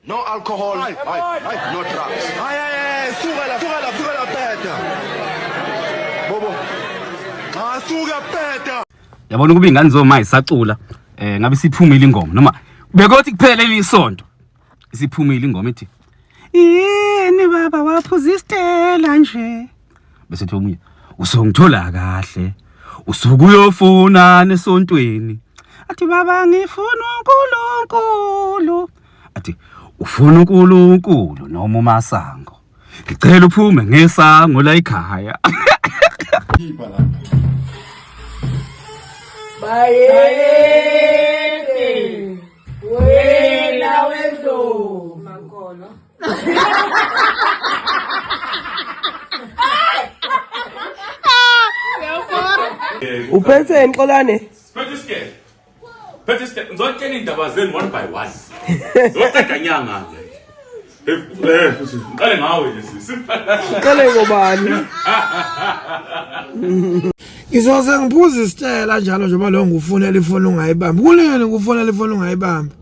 No alcohol, ay, ay, ay, no drugs. Ay, ay, ay, suka la, suka la, suka la peta. Bobo. Cha suka peta. Yabona ukuba ingane zoma isacula eh ngabe siphumile ingoma noma bekothi kuphela ilisonto isiphumile ingoma ethi yini baba waphuza istela nje bese kuthi omunye usongithola kahle usuke uyofuna nesontweni athi baba ngifuna uNkulunkulu athi ufuna uNkulunkulu noma umasango ngicela uphume ngesango la ekhaya bayede wena wendlovu uphethe nxolane Phethe isikele. Phethe isikele. Ngizotshela indaba zenu one by one. Ngizothatha nyanga nje. Eh, eh, futhi ngiqale ngawe nje sisi. qale ngobani Ngizoze ngiphuze isitshela njalo njengoba lo ngufunela ifoni ungayibambi. Kuleni kufunela ifoni ungayibambi.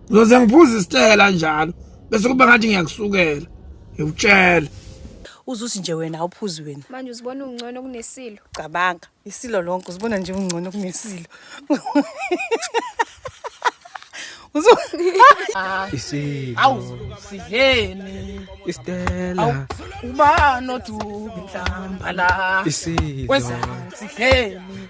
Ngizoze ngiphuze isitshela njalo. bese kuba ngathi ngiyakusukela ngikutshela uzusi nje wena awuphuzi wena manje uzibona ungcono kunesilo cabanga isilo lonke uzibona nje ungcono kunesilo awusidleni istela ubani odubinhlambala isilo sidleni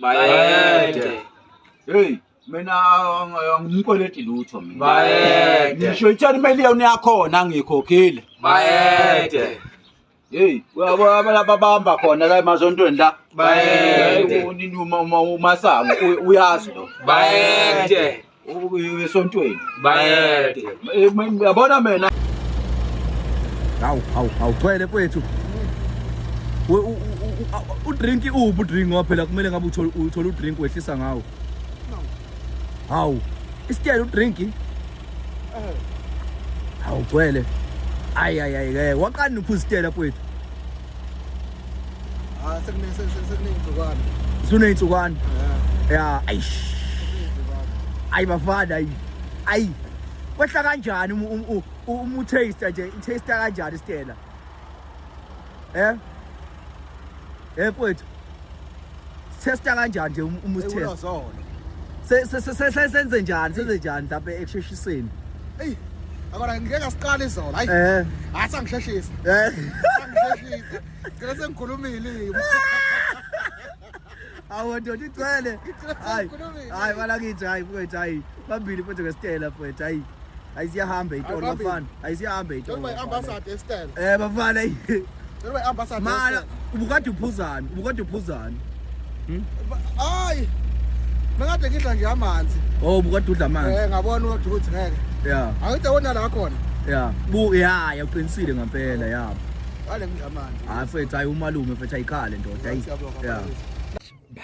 bayede hey mina angimkweleti lutho mina bayede ngisho ithani imali yona yakhona angiyikhokhile bayede hey uyabo abalaba bamba khona la emazontweni la bayede umasango uyazi lo bayede esontweni bayede yabona mina hawu hawu hawu gcwele mfethu udrink uphi udrink ngoba phela kumele ngabe uthole udrink wehlisa ngawo hawu isitele udrink eh. hawu gcwele ayi ayi ayi waqani uphi isitele mfethu Ah sekuningi sekuningi zokwana. Sekuningi zokwana. Yeah, aish. Ayi bafana ayi. Ayi. Kwehla kanjani umu taste nje, i taste kanjani Stella? Eh? Eh mfowethu. Testa kanjani nje um, uma usitesta? Sesizolo. Senze njani? Senze njani lapha ekusheshiseni? Ey. Akona ngeke asiqale izolo. Hayi. Eh. Asangisheshisa. Ah, eh. Asangisheshisa. Ngeke sengikhulumile. awu ndoda igcwele hayi hayi balakithi hayi mfowethu hayi phambili mfowethu ngesitela mfowethu hayi ayisiyahambe itolo Ayihambi. bafana ayisiyahambe itolo Njengoba bafana. i-ambassador esitele. eh bafana eyi. Njengoba i-ambassador mana esitele. ubukade uphuzani ubukade uphuzani Ba- Hayi. Mengade ngidla nje amanzi. oh ubukade udla amanzi Eh ngabona ukuthi ukuthi ngeke. ya Angithi awona la khona. ya bu ya ya uqinisile ngampela ya Wale ngidla amanzi. hayi fethu hayi umalume fethu ayikhale ndoda ayi Siyabonga, ya Mfundisi.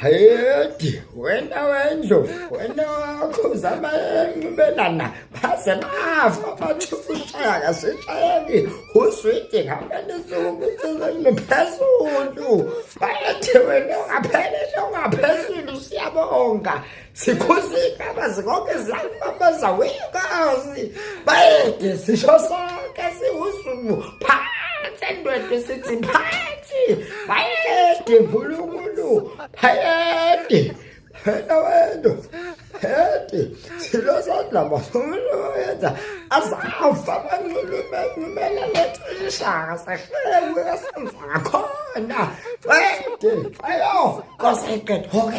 Hayedi wena wendlu wena wakho uzama enqibelana baze bafa bathi ushaya kasishayeki uswidi ngamane sokuthizeni phezulu bathi wena ungaphele ungaphezulu siyabonga Sikhosi baba zonke zami baba zawekazi. Bayede sisho sonke siwusuku phansi endwedwe sithi phansi. Bayede nkulunkulu. Bayede. Phela wena. Bayede. Silo sodla masolo yenza. Azafa banxulume nxumela lethishaka sahlewe kasenza khona. Bayede. Ayo. Koseqedwe.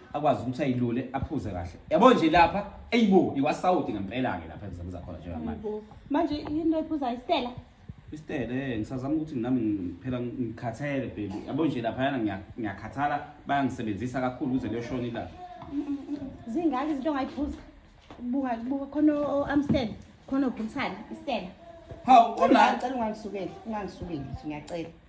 akwazi ukuthi ayilule aphuze kahle yabo nje lapha eyibo iwasawudi ngempela-ke lapha emzamza khona njengamanje manje yinto ephuza istela istele eh, ngisazama ukuthi nami phela ngikhathele baby yabo nje laphayana ngiyakhathala bayangisebenzisa kakhulu ukuze kuyoshona ilanga zingaki izinto ongayiphuza buka buka khona o-amstel khona ophumsana istela hawu unacela ungangisukeli ungangisukeli ngiyacela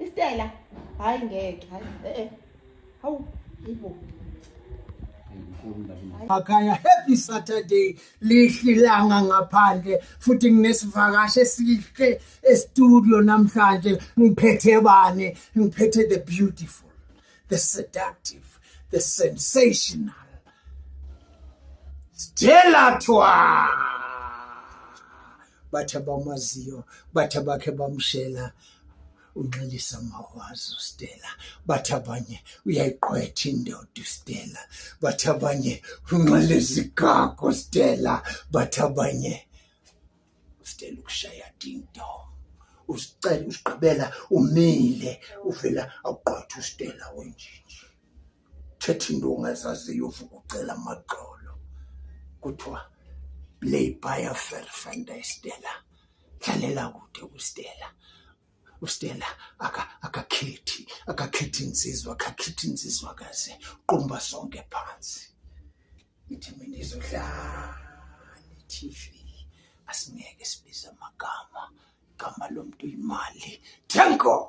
Istela hayi ngeke hayi eh eh hawu ibo Akaya happy Saturday lihlilanga ngaphandle futhi nginesivakashi esihle e-studio namhlanje ngiphethe bani ngiphethe the beautiful the seductive the sensational Stella Twa bathi abamaziyo bathi abakhe bamshela unxelisa mawazi uStella bathi abanye uyayiqwetha indoda uStella bathi abanye unxele izigago uStella bathi abanye uStella ukushaya ding dong usicela usigqibela umile uvela awuqwetha uStella wenjinji thetha into ongazaziyo uvuka ucela amagxolo kuthiwa play by a fair friend Stella dlalela kude kuStella uStella aka akakhethi akakhethi insizwa akakhethi insizwa kaze qumba sonke phansi ngithi mina izodlala TV asingeke sibize amagama igama lomuntu imali thank god